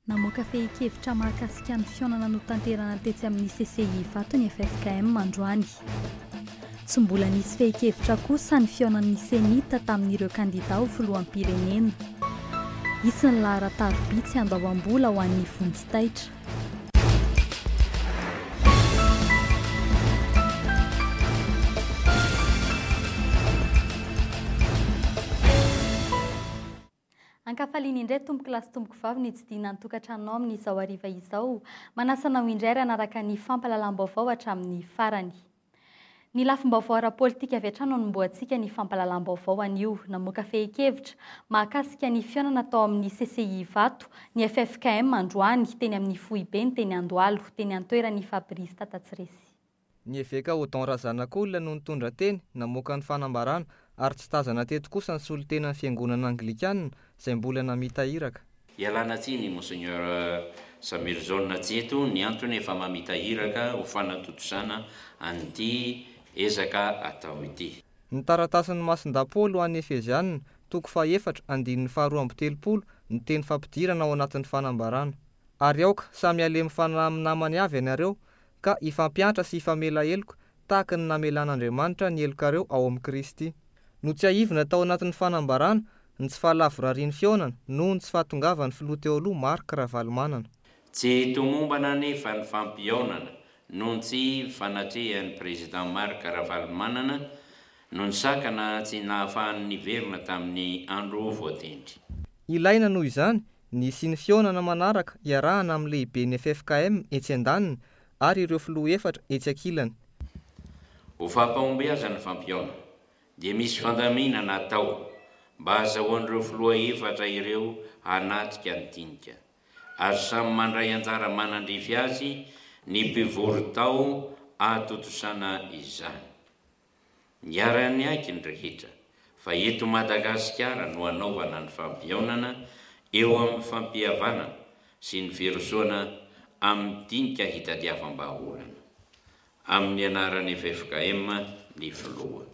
Namoaka fehin-kevitra mahakasika ny fihaonana notanterana tetsy amin'ny CCI Ivato ny ffkm androany. Tsy mbola nisy fehin-kevitra kosa ny fihaonan'ny CENI-T tamin'ireo kandidà ho filoham-pirenena. Hisy ny laharan-tarobia tsy andoavam-bola ho an'ny vonjy taitra. Ankafaliana indray tompoko lahy sy tompoko vavy ny tsidihina ny tokantranonao amin'izao hariva izao. Manasa anao indray ary hanaraka ny fampahalalam-baovao hatramin'ny farany. Ny lafim-baovao ara-politika avy hatrany no anombohantsika ny fampahalalam-baovao anio. Namoaka fehin-kevitra mahakasika ny fihaonana tao amin'ny CCI Ivato ny ffkm androany teny amin'ny foibeny teny Andohalo, teny an-toeran' i Fabrice Tatatsiresy. Ny eveka Odon Razanakolona no nitondra teny namoaka ny fanambarana ary tsy tazana teto kosa ny solontenan'ny fiangonana anglikana izay mbola namita iraka. Ialana tsiny Monseigneur Samuelson Jeto ny antony efa mamita iraka ho fanatontosana an'ity ezaka atao ity. Ny taratasin'ny Masin-daPaoly ho an'ny Efeziana, toko fahefatra, andininy faharoa amby telopolo, ny teny fampidirana ao anatin'ny fanambarana. Ary aoka samy halemy fanahy amin'ny namany avy ianareo, ka hifampiantra sy hifamela heloka, tahaka ny namelan'Andriamanitra ny helokareo ao amin'i Kristy. Notsiahivina tao anatin'ny fanambarana ny tsy fahalavorarian'ny fihaonana noho ny tsy fahatongavan'ny Filoha teo aloha Marc Ravalomanana. Tsy tomombana anefa ny fampihaonana noho ny tsy fanatrehan'ny Président Marc Ravalomanana no nisakana tsy nahafahany niverina tamin'ny andro voatendry. Ilaina noho izany ny hisian'ny fihaonana manaraka iarahana amin'ny lehiben'ny ffkm etsy andaniny ary ireo filoha efatra etsy ankilany. Ho fampahombiazan'ny fampihaona, dia misy fandaminana atao mba hahazahoan'ireo filoha efatra ireo hanatrika ny dinika, ary samy mandray anjara manandrify azy ny mpivory tao ahatontosana izany. Niara-niaiky ny rehetra fa eto Madagasikara no hanaovana ny fampihaonana eo amin'ny fampihavanana sy ny firosoana amin'ny dinika hitadiavam-bahaolana. Amin'ny anaran'ny ffkm ny filoha.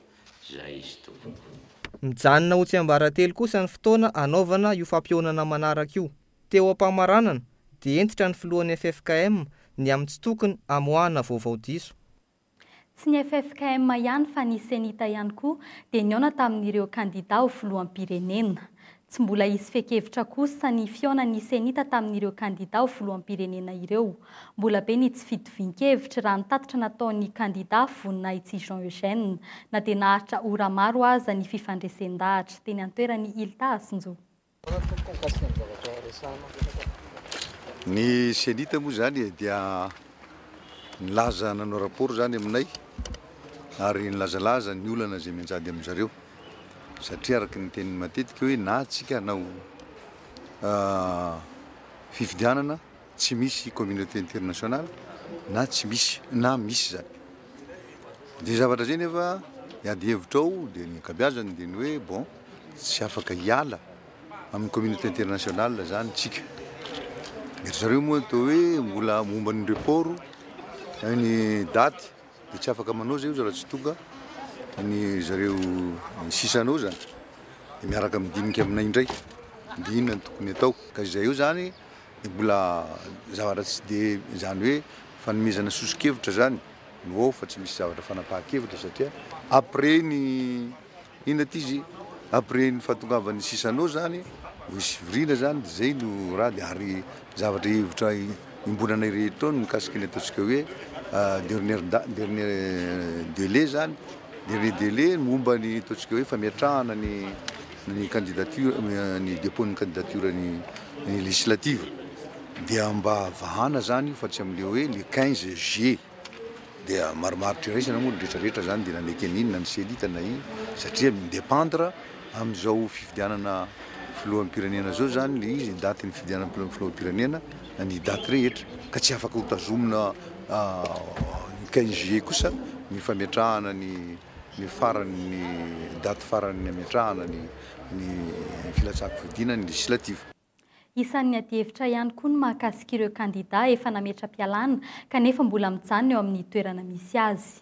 Izay izy tompoko. Mijanona ho tsiambaratelo kosa ny fotoana hanaovana io fampihaonana manaraka io. Teo am-pamaranana dia hentitra ny filohan'ny ffkm ny amin'ny tsy tokony hamoahana vaovao diso. Tsy ny ffkm ihany fa ny Cenita ihany koa dia nihaona tamin'ireo kandida ho filoham-pirenena. Tsy mbola hisy fehin-kevitra kosa ny fihaonan'ny Cenita tamin'ireo kandida ho filoham-pirenena ireo. Mbola be ny tsy fitovian-kevitra raha ny tatitra nataon'ny kandida Voninahitsihy Jean Eugène na dia naharitra ora maro aza ny fifandresen-dahatra teny an-toerany Ilta Asinjoa. Ny Cenit moa izany dia nilaza nanao rapport izany aminay ary nilazalaza ny olana izay mianjady amin-dry zareo satria araka ny teniny matetika hoe na tsika hanao fifidianana, tsy misy communauté internationale na tsy misy na misy zany de zavatra zay nefa ny ady hevitra ao de ny ankabiazany de ny hoe bon tsy afaka hiala amin'ny communauté internationale zany tsika de zareo moa atao hoe mbola momba ny report ny daty de tsy afaka manao zay zara tsy tonga ny zareo ny sisanao zany de miaraka amin'ny dinika aminay indray de inona ny tokony atao ka izay eo zany dia mbola zavatra tsy dia izany hoe fanomezana soso-kevitra izany no ao fa tsy misy zavatra fanapahan-kevitra satria après ny inona ity izy après ny fahatongavan'ny sisanao izany vao hisy fivoriana izany dia izay no raha dia ary zavatra hevitra iombonana irery tao ny mikasika ny ataontsika hoe dernière da- dernière délai izany Delai-delai ny momba ny ataontsika hoe fametrahana ny ny candidature, ny dépôt ny candidature ny ny législative dia mba vahana izany io fa tsy amin'ilay hoe le quinze juillet dia marimaritra iraisana moa ny retraretra izany dia na ny Ceni na ny Ceni ta na ino satria mi-dépendre amin'izao fifidianana filoham-pirenena izao izany ilay izy ny datin'ny fifidianana filoham-pirenena. ny daty rehetra ka tsy afaka hotazomina ny quinze juillet kosa ny fametrahana ny ny farany ny daty farany nametrahana ny ny filatsahan-kofidina ny législative. Isan'ny adihevitra ihany koa ny mahakasika ireo kandidà efa nametra-pialàna kanefa mbola mijanona eo amin'ny toerana misy azy.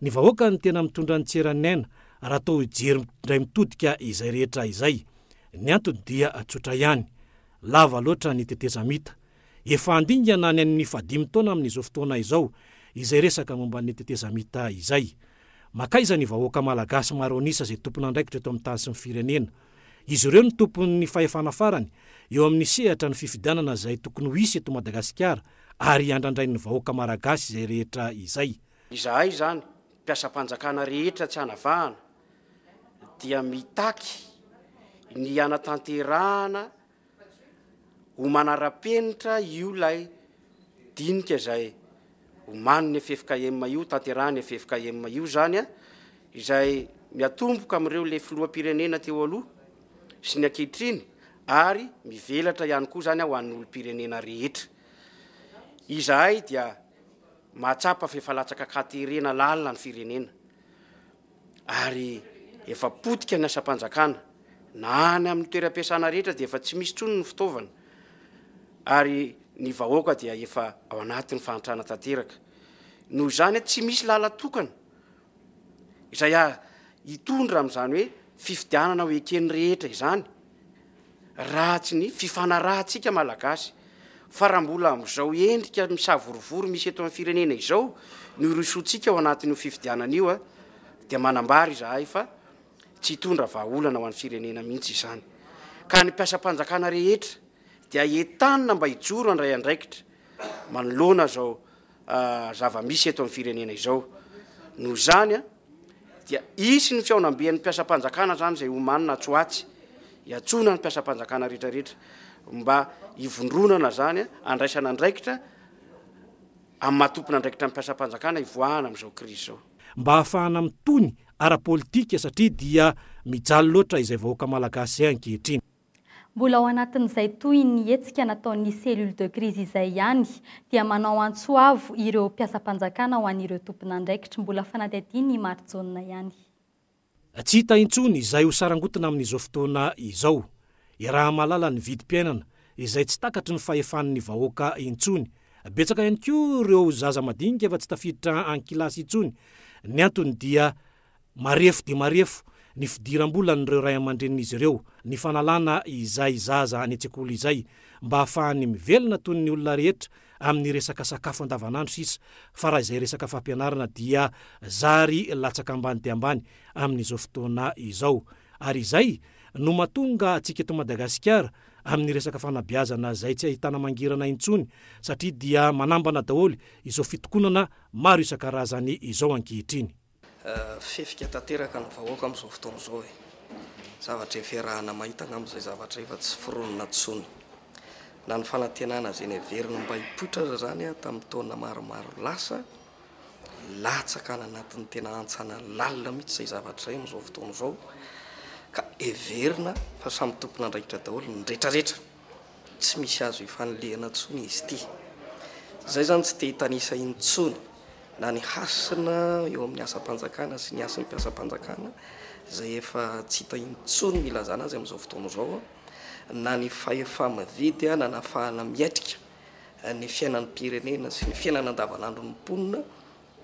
Ny vahoaka no tena mitondra ny tsiranaina raha toa hijery indray mitodika izay rehetra izay. Ny antony dia tsotra ihany, lava loatra ny tetezamita. Efa handingana ny an'ny fahadimy taona amin'izao fotoana izao izay resaka momba ny tetezamita izay. Mankaiza ny vahoaka malagasy maro an'isa izay tompon'andraikitra eto amin'ny tany sy ny firenena? Izy ireo no tompon'ny fahefana farany eo amin'ny sehatra ny fifidianana izay tokony ho hisy eto Madagasikara ary andrandrain'ny vahoaka malagasy izay rehetra izay. Izahay izany mpiasam-panjakana rehetra tsy anavahana dia mitaky ny hanatanterahana ho manara-penitra io ilay dinika izay omanin'ny ffkm io, tanterahin'ny ffkm io izany, izay miatomboka amin'ireo le filoham-pirenena teo aloha sy ny ankehitriny ary mivelatra ihany koa izany ho an'ny olom-pirenena rehetra. Izahay dia Mahatsapa fa efa latsaka an-katerena lalina ny firenena ary efa potika ny asam-panjakana, na any amin'ny toeram-piasana rehetra dia efa tsy misy intsony ny fitaovana ary ny vahoaka dia efa ao anatin'ny fahantrana tanteraka. Noho izany, tsy misy làlan-tokana izay hitondra amin'izany hoe fifidianana ho eken'ny rehetra izany, raha tsy ny fifanarahantsika Malagasy. Fa raha mbola amin'izao endrika misavorovoro misy eto amin'ny firenena izao no hirosoantsika ao anatin'io fifidianana io, dia manambara izahay fa tsy hitondra vahaolana ho an'ny firenena mihitsy izany. Ka ny mpiasam-panjakana rehetra dia entanina mba hijoro handray andraikitra manoloana izao zava-misy eto amin'ny firenena izao. Noho izany dia hisy ny fihaonamben'ny mpiasam-panjakana izany izay omanina atsy ho atsy, hiantsoana ny mpiasam-panjakana rehetrarehetra mba hivondronana izany handraisana andraikitra amin'ny maha tompon'andraikitra ny mpiasam-panjakana hivoahana amin'izao krizy izao. Mba hahafahana mitony ara-politika satria dia mijaly loatra izay vahoaka malagasy izay ankehitriny. Mbola ao anatin'izay tohin'ny hetsika nataon'ny Cellule de crise izay ihany dia manao antso avo ireo mpiasam-panjakana ho an'ireo tompon'andraikitra. Mbola fanadihadiana i Marijaona ihany. Tsy hita intsony izay ho sarangotina amin'izao fotoana izao. Iaraha-mahalala ny vidim-piainana izay tsy takatry ny fahefan'ny vahoaka intsony. Betsaka ihany koa ireo zaza madinika efa tsy tafiditra an-kilasy intsony. Ny antony dia Marefo dia marefo ny fidiram-bolan'ireo ray aman-drenin'izy ireo ny fanalana izay zaza any an-tsekoly izay mba hahafahany mivelona toy ny olona rehetra amin'ny resaka sakafo andavanandro sisa fa raha izay resaka fampianarana dia zary latsaka ambany dia ambany amin'izao fotoana izao ary izay no mahatonga antsika eto Madagasikara amin'ny resaka fanabeazana izay tsy ahitana mangirana intsony satria dia manambana daholo izao fitokonana maro isan-karazany izao ankehitriny. Fihefika tanteraka ny vahoaka amin'izao fotoana izao e! Zavatra efa iarahana mahita angamba izay zavatra efa tsy foronina intsony. Na ny fanantenana izay neveriny mba hipoitra aza izany tamin'ny taona maromaro lasa, latsaka any anatin'ny tena hantsana lalina mihitsy izay zavatra izay amin'izao fotoana izao ka heverina fa samy tompon'andraikitra daholo ny retraretra. Tsy misy azo ifanilihana intsony izy ity. Izay izany tsy te hitanisa intsony na ny hasina eo amin'ny asam-panjakana sy ny hasin'ny mpiasam-panjakana, izay efa tsy hita intsony ny ilazana azy amin'izao fotoana izao, na ny fahefa-mividy nanafahana miatrika ny fiainan'ny mpirenena sy ny fiainana andavanandron'ny mponina.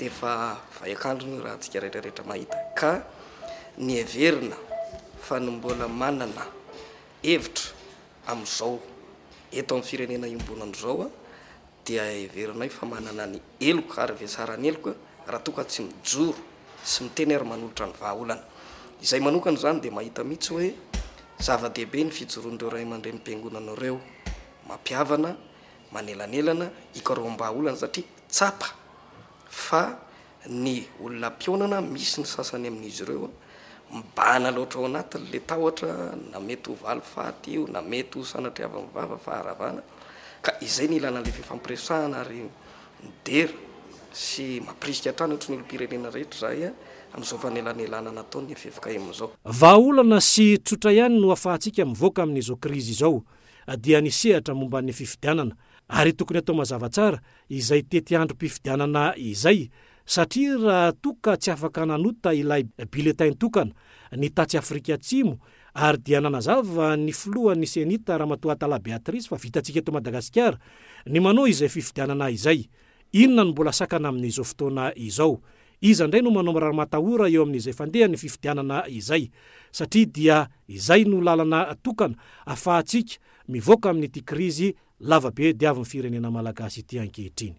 Efa vaiakandro ny rantsika retraretra mahita ka niheverina fa ny mbola manana hevitra amin'izao eto amin'ny firenena iombonana izao dia heverinay fa manana ny heloka ary vetsaran'ny heloka raha toa ka tsy mijoro sy miteny ary manolotra ny vahaolana. Izahay manokana izany dia mahita mihitsy hoe zava-dehibe ny fijoroan'ireo Raiamandrenim-piangonana ireo mampihavana manelanelana hikaroham-bahaolana satria tsapa fa ny olona mpionana, misy ny sasany amin'izy ireo mibahana loatra ao anatin'ilay tahotra na mety ho valifaty io na mety ho sanatriavin'ny vava, faharavana, ka izay no ilana an'ilay fifampiresahana ary midera sy mampirisika hatrany ohatry ny olom-pirenena rehetra izahay amin'izao fanelanelanana ataon'ny ffkm izao. Vahaolana sy tsotra ihany no afahantsika mivoaka amin'izao krizy izao, dia ny sehatra momba ny fifidianana ary tokony atao mazava tsara izay tetiandrom-pifidianana izay satria raha toa ka tsy afaka nanota ilay bulletin tokana ny tatsy Afrika Atsimo ary dia nanazava ny filohan'ny Cenit Ramatoa Atala Beatrice fa vitantsika eto Madagasikara ny manao izay fifidianana izay Inona no mbola sakana amin'izao fotoana izao? Iza indray no manao mirary matahora eo amin'izay fandehan'ny fifidianana izay? Satria dia izay no lalana tokana afahantsika mivoaka amin'ity krizy lavabe diavin'ny firenena malagasy ity ankehitriny.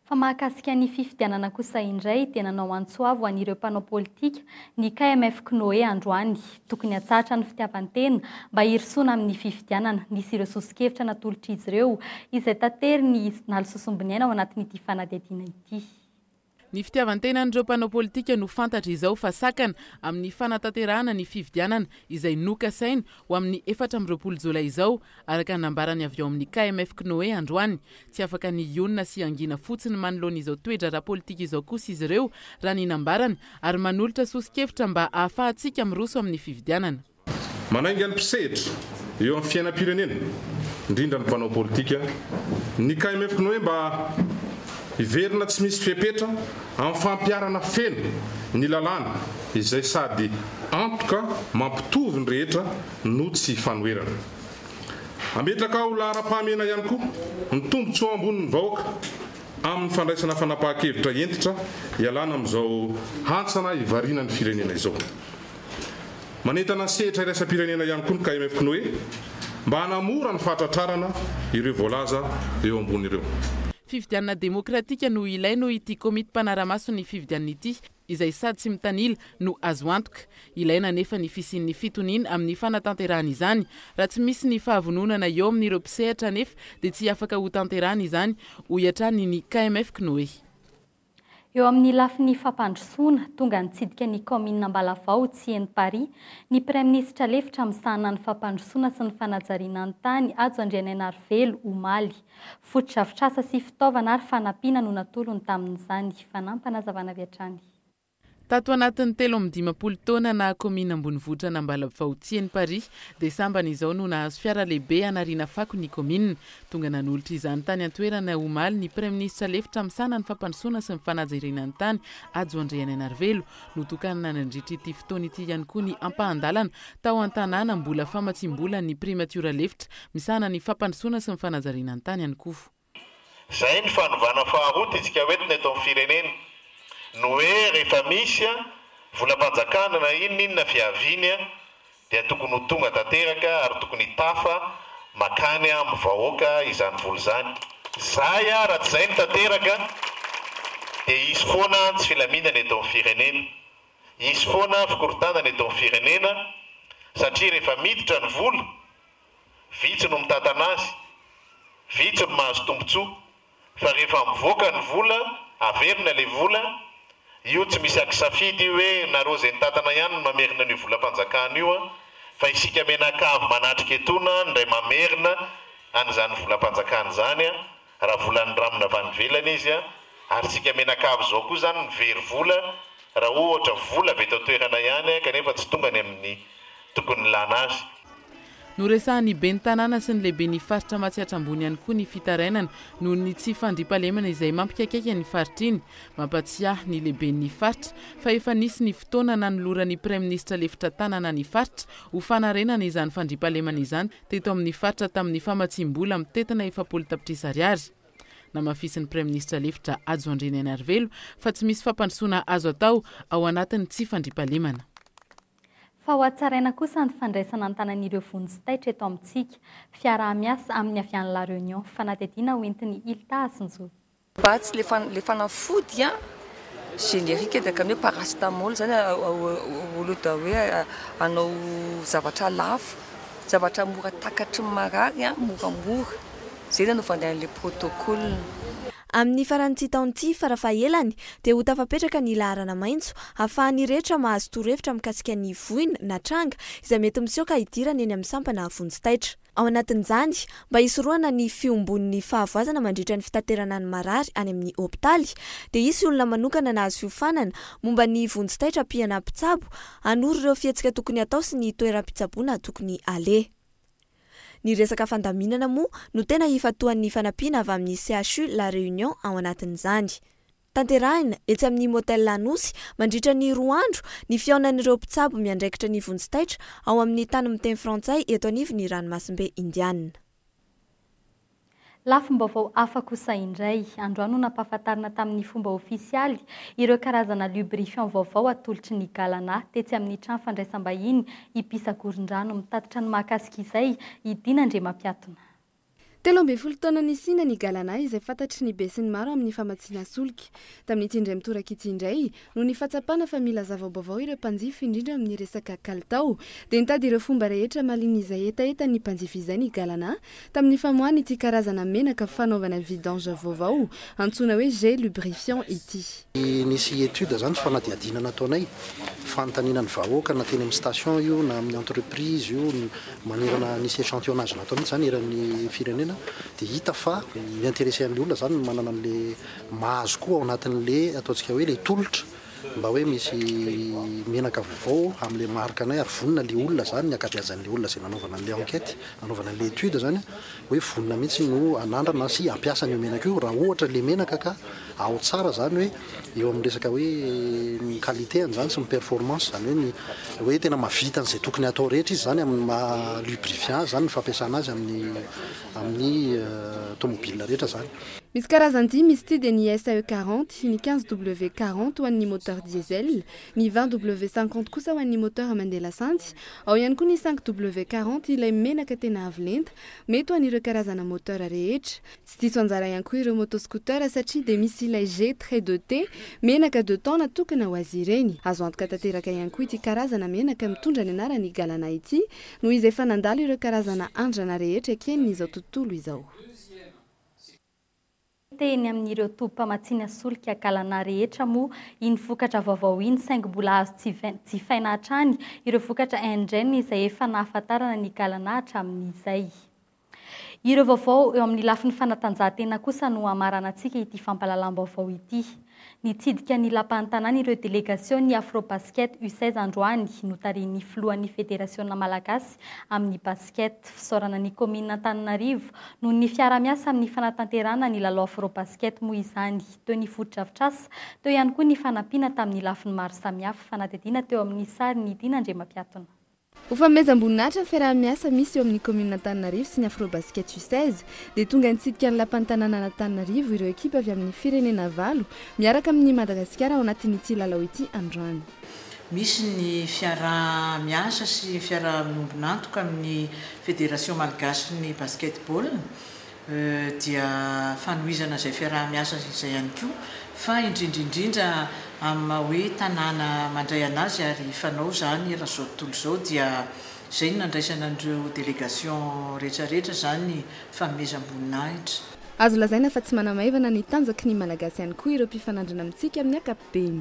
Fa mahakasika ny fifidianana kosa indray dia nanao antso avo an'ireo mpanao politika ny KMF Cnoe androany. Tokony hatsahatra ny fitiavan-tena mba hirosoana amin'ny fifidianana. Nisy ireo soso-kevitra natolotr'izy ireo izay taterin'i Nalo Sosombiniaina ao anatin'ity fanadihadiana ity. Ny fitiavan-tenan'ireo mpanao politika no fantatra izao fa sakana amin'ny fanatanterahana ny fifidianana izay nokasaina ho amin'ny efatra amby roapolo jolay izao Araka ny nambarany avy ao amin'ny KMF Cnoe androany, tsy afaka ny hionona sy hangina fotsiny manoloana izao toe-draharaha politika izao kosa izy ireo, raha ny nambarany, ary manolotra soso-kevitra mba hahafahantsika miroso amin'ny fifidianana. Manainga ny mpisehitra eo amin'ny fiainam-pirenena, indrindra ny mpanao politika, ny KMF Cnoe mba hiverina tsy misy fepetra amin'ny fampiharana feno ny lalàna izay sady antoka mampitovy ny rehetra no tsy fanoherana. Hametraka ho laharam-pahamehana ihany koa ny tombontsoa ambonin'ny vahoaka amin'ny fandraisana fanapahan-kevitra hentitra hialana amin'izao hantsana hivarina ny firenena izao. Manentana ny sehatra iraisam-pirenena ihany koa ny KMFKNOE mba hanamora ny fahatratrarana ireo voalaza eo ambony ireo. Fifidianana demokratika no ilaina hoy ity komity mpanara-maso ny fifidianana ity. izay sady tsy mitanila no azo antoka. Ilaina anefa ny fisian'ny fitoniana amin'ny fanatanterahana izany. Raha tsy misy ny fahavononana eo amin'ireo mpisehatra anefa dia tsy afaka hotanterahana izany, hoy hatrany ny KMF Kinoehy. Eo amin'ny lafiny fampandrosoana, tonga nitsidika ny kaominina Ambalavao tsy eny Paris, ny Praiminisitra lefitra misahana ny fampandrosoana sy ny fanajariana ny tany Hajo Andrianainarivelo, omaly. Fotodrafitrasa sy fitaovana ary fanampiana no natolony tamin'izany. Fanampana hazavana avy hatrany. Tato anatin'ny telo amby dimampolo taona naha kaominina ambonivohitra an'Ambalavao-Tsihy ny Paris dia sambany izao no nahazo fiara lehibe hanariana fako ny kaominina. Tonga nanolotra izany tany an-toerana omaly ny praiminisitra lefitra misahana ny fampandrosoana sy ny fanajerena ny tany Hajo Andrianainarivelo Notokanina nandritra ity fotoana ity ihany koa ny ampahan-dalana tao an-tanàna mbola famatsiam-bolan'ny primatiora lefitra misahana ny fampandrosoana sy ny fanajariana ny tany any koa. Izay ny fanovana faharoa titsika ho entina eto amin'ny firenena. No hoe rehefa misy volam-panjakana na inona inona fiaviany dia tokony ho tonga tanteraka ary tokony hitafa makany am vahoaka izany vola izany zay a raha tsy zay no tanteraka dia hisy foana tsy filaminana eto am firenena hisy foana fikorontanana eto am firenena satria rehefa miditra ny vola vitsy no mitantana azy vitsy no mahazo tombotsoa Fa rehefa mivoaka ny vola, averina ilay vola, io tsy misy akisafidy io hoe nareo izay nitantana ihany no mamerina an'io volam-panjakana io an, fa isika mianakavy manatrika etona no indray mamerina an'izany volam-panjakana izany an, raha volan'ny ramona avy any ivelany izy an, ary isika mianakavy izao koa izany no very vola raha ohatra vola avy eto an-toerana ihany an, kanefa tsy tonga any amin'ny tokony hilana azy. Noresahan'ny ben'ny tanàna sy ny lehiben'ny faritra Matsiatra Ambony ihany koa ny fitarainana noho ny tsy fandriampahalemana izay mampikaikaika iny faritra iny. Mampatsiahy ny lehiben'ny faritra fa efa nisy ny fotoana nanoloran'ny praiminisitra lefitra tanana ny faritra ho fanarenana izany fandriampahalemana izany teto amin'ny faritra tamin'ny famatsiam-bola mitentina efapolo tapitrisa ariary. Namafisin'ny praiminisitra lefitra Hajo Andrianainarivelo fa tsy misy fampandrosoana azo atao ao anatin'ny tsy fandriampahalemana. fa hohatsaraina kosa ny fandraisana an-tanan'ireo vonjy taitra eto amintsika, fiaraha-miasa amin'ny avy any La Réunion, fanadihadiana ho entin'ny ILTA sy ny. Batsy, ilay fanafody générique dikan'ny hoe paracetamol izany au lieu de hoe hanao zavatra lafo, zavatra mora takatry ny marary, moramora. Izay no nanaovany an'ilay protocole. Amin'ny faran'ity taona ity, farafahaelany, dia ho tafapetraka ny laharana maitso, hahafahan'ny rehetra mahazo torohevitra mikasika ny voina na tranga izay mety misioka hidirana eny amin'ny sampana vonjy taitra. Ao anatin'izany, mba hisorohana ny fiombon'ny fahavoazana mandritra ny fitaterana ny marary any amin'ny hopitaly, dia hisy olona manokana nahazo fiofanana momba ny vonjy taitra mpihana mpitsabo hanoro ireo fihetsika tokony hatao sy ny toeram-pitsaboana tokony haleha. Ny resaka fandaminana moa no tena ifantohan'ny fanampiana avy amin'ny CHU La Réunion ao anatin'izany. Tanterahina, etsy amin'ny Motel Anosy, mandritra ny roa andro, ny fihaonan'ireo mpitsabo miandraikitra ny vonjy taitra ao amin'ny tany miteny frantsay eto anivon'ny ranomasimbe Indiana. Lafim-baovao hafa kosa indray. Androany no nampahafantarina tamin'ny fomba ofisialy ireo karazana lubrifiant vaovao atolotry ny Galana tetsy amin'ny trano fandraisam-bahiny Ipisagorondrano mitatitra ny mahakasika izay i Dina Andriamampiatona. Telo ambin'ny folo taona nisiana ny Galana izay fantatry ny besinimaro amin'ny famatsiana solika. Tamin'ity indray mitoraka ity indray, Noho ny fahatsapana fa mila zava-baovao ireo mpanjifa indrindra amin'ny resaka kalitao, dia nitady ireo fomba rehetra mahaliana izay hetahetan'ny mpanjifa izay ny Galana, tamin'ny famoahany ity karazana menaka fanaovana vidange vaovao antsoina hoe Gel Lubrifiant ity. Nisy étude zany, fanadihadiana nataonay, fanontaniana ny vahoaka na teny amin'ny station io na amin'ny entreprise io, manerana nisy échantillonnage natao mihitsy zany eran'ny firenena, dia hita fa mi-interesser an'ilay olona zany ny manana an'ilay Mahazo koa ao anatin'le ataontsika hoe le tolotra mba hoe misy menaka vaovao amle marika anay ary vonona le olona zany ny ankabeazan'le olona zay nanaovana an'le enquête nanaovana an'le étude zany hoe vonona mihitsy no anandrana sy ampiasa an'io menaka io raha ohatra le menaka ka ao tsara zany hoe eo amin'ny resaka hoe ny qualité an'zany sy ny performance zany hoe ny hoe tena mavita an'zay tokony hatao rehetra izy zany amin'ny maha lubrifiant zany ny fampiasana azy amin'ny amin'ny tomobile rehetra zany. Misy karazany dimy izy ity dia ny SAE quarante, ny quinze W quarante ho an'ny moteur diesel, ny vingt W cinquante kosa ho an'ny moteur mandeha lasantsy, ao ihany koa ny cinq W quarante ilay menaka tena avo lenta, mety ho an'ireo karazana moteur rehetra. Tsy diso anjara ihany koa ireo moto scooter satria dia misy ilay G très deux T, menaka deux temps natokana ho azy ireny. Azo antoka tanteraka ihany koa ity karazana menaka mitondra ny anaran'i Galana ity noho izy efa nandalo ireo karazana andrana rehetra eken'ny izao tontolo izao. Hita eny amin'ireo tobim-pamatsiana solika Galana rehetra moa iny vokatra vaovao iny saingy mbola azo jifaina hatrany ireo vokatra Indien izay efa nahafantarana ny Galana hatramin'izay. Ireo vaovao eo amin'ny lafiny fanatanjahantena kosa no hamaranantsika ity fampahalalam-baovao ity. Nitsidika ny Lapan'ny Tanàna ireo delegasion'ny Afrobasket U seize androany, notarihin'ny filohan'ny Federasiona malagasy amin'ny basket. Fisaorana ny kaominina Antananarivo noho ny fiarahamiasa amin'ny fanatanterahana ny lalao Afrobasket moa izany. Teo ny fotodrafitrasa, teo ihany koa ny fanampiana tamin'ny lafiny maro samihafa, fanadihadiana teo amin'ny sary ny Dina Andriamampiatona. Ho fanomezam-boninahitra ny fiaraha-miasa misy eo amin'ny kaominina Antananarivo sy ny Afrobasket U seize dia tonga nitsidika ny lapan'ny tanànan' Antananarivo ireo ekipa avy amin'ny firenena valo miaraka amin'i Madagasikara ao anatin'ity lalao ity androany. Misy ny fiaraha-miasa sy fiaraha-miombon'antoka amin'ny Federation malgache-n'ny Basket-ball. dia fanohizana izay fiaraha-miasa izay ihany koa fa indrindra indrindra amin'ny maha hoe tanàna mandray an'azy ary fanao izany eran'izao tontolo izao dia izay no nandraisana an'ireo délégation rehetra rehetra izany fanomezam-boninahitra. Azo lazaina fa tsy manamaivana ny tanjaky ny Malagasy ihany koa ireo mpifanandrina amintsika amin'ny ankapobeny.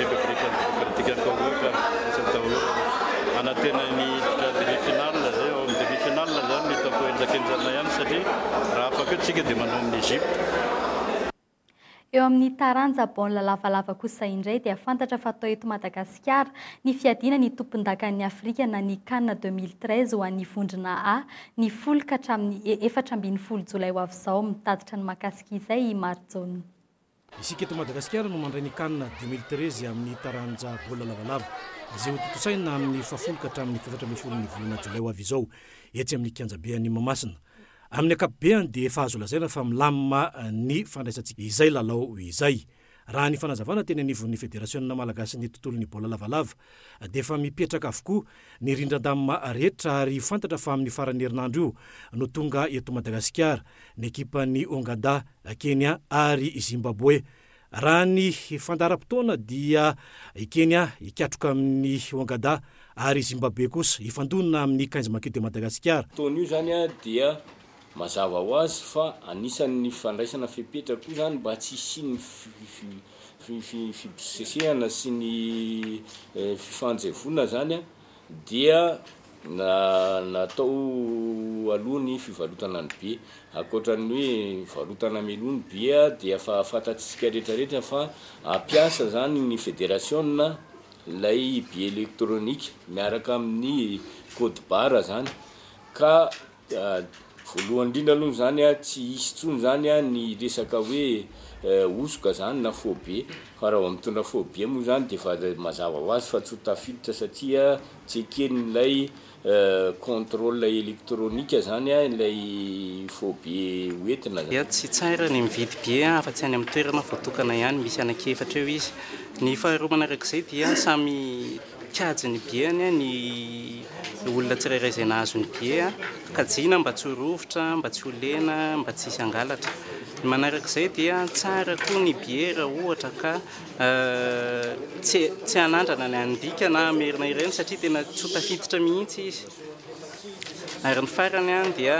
Repoblikan'ny Demokratikan'i Kôngô ka tsy nitaolana hanantena ny hiditra demi finale izay ao amin'ny demi finale izany mety ho kohenjakenjana ihany satria raha afaka eo tsika dia manao amin'i Egypte. Eo amin'ny taranja baolina lavalava kosa indray dia fantatra fa atao eto Madagasikara ny fiadiana ny tompondakan'ny Afrika na ny Can deux mille treize ho an'ny vondrona A ny folo ka hatramin'ny e efatra ambin'ny folo jolay ho avy izao. Mitatitra ny mahakasika izay i Marijaona. Isika eto Madagasikara no mandray ny Can deux mille treize amin'ny taranja baolina lavalava, izay hotontosaina amin'ny fahafolo ka hatramin'ny efatra ambin'ny folon'ny volana jolay ho avy izao, etsy amin'ny kianjabe any Mahamasina. Amin'ny ankapobeany dia efa azo lazaina fa milamina ny fandraisantsika izay lalao izay. Raha ny fanazavana teny anivon'ny federasionina malagasin'ny tontolon'ny baolina lavalava, dia efa mipetraka avokoa ny rindran-damima rehetra ary fantatra fa amin'ny faran'ny herinandro io no tonga eto Madagasikara ny ekipan'ny Ongada, Kenya ary Zimbaboe. Raha ny fandaharam-potoana dia i Kenya hikatroka amin'ny Ongada ary i Zimbaboe kosa hifandonana amin'ny Kainzy Maquis de Madagascar. Fotoana io izany dia Mazava ho azy fa anisan'ny fandraisana fepetra koa izany mba tsy hisian'ny fibosesehana sy ny fifanjevoana izany dia natao aloha ny fivarotana ny bia. Ankoatra ny hoe varotana meloa ny bia dia efa fantatsika rehetrarehetra fa hampiasa izany ny federasiona ilay bia elektronika miaraka amin'ny code barre izany ka. Voalohany indrindra aloha izany a, tsy hisy intsony izany a ny resaka hoe hosoka izany na phobie, fa raha vao mitondra phobie moa izany dia efa mazava ho azy fa tsy ho tafiditra satria tsekenin'ilay contrôle électronique izany a ilay phobie ho entina izany. Tsy tsara ny mividy bie afa-tsy any amin'ny toerana voatokana ihany, misy anaky efatra eo izy. Ny faharoa manarak'izay dia samy Kajy ny biany ny olona tsirairay izay nahazo ny bia, kajiana mba tsy ho rovitra, mba tsy ho lena, mba tsy hisy hangalatra. Ny manaraka izay dia tsara koa ny bia raha ohatra ka tsy tsy hanandrana ny an'ny bika na hamerina ireny satria tena tsy ho tafiditra mihitsy izy. Ary ny farany dia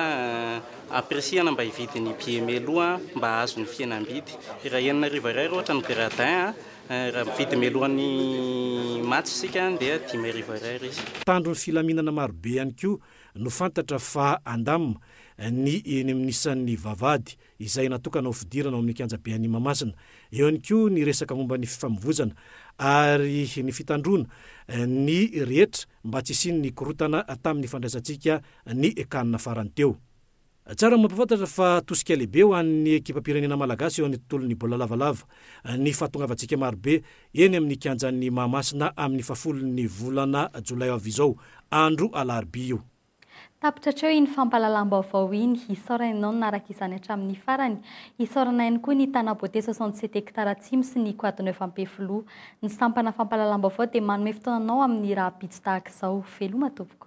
ampirisihana mba hividy ny bia mialoha mba hahazo ny fihenam-bidy. Raha enina arivo ariary ohatra ny gradin. Raha mividy mialohan'ny match isika dia dimy arivo Ar izy. Mpitandro ny filaminana marobe ihany koa no fantatra fa handam ny eny amin'ny isan'ny vavahady izay natokana ho fidirana ao amin'ny kianjabe any Mahamasina. Eo ihany koa ny resaka momba ny fifamovoizana ary ny fitandroana ny rehetra mba tsy hisian'ny korontana tamin'ny fandraisantsika ny can farany teo. Tsara ny mampahafantatra fa tosika lehibe ho an'ny ekipam-pirenena malagasy eo amin'ny tontolon'ny baolina lavalava ny fahatongavantsika marobe eny amin'ny kianjan'i Mahamasina amin'ny fahafolon'ny volana jolay ho avy izao, andro alarobia io. Tapitra hatreo iny fampahalalam-baovao iny. Hisaorana ianao nanaraka izany hatramin'ny farany. Hisaorana ihany koa ny Tana Beauté soixante sept hectares Atsimo sy ny Quad Neuf Ampefiloha. Ny sampana fampahalalam-baovao dia manome fotoana anao amin'ny rahampitso tahaka izao. Veloma tompoko.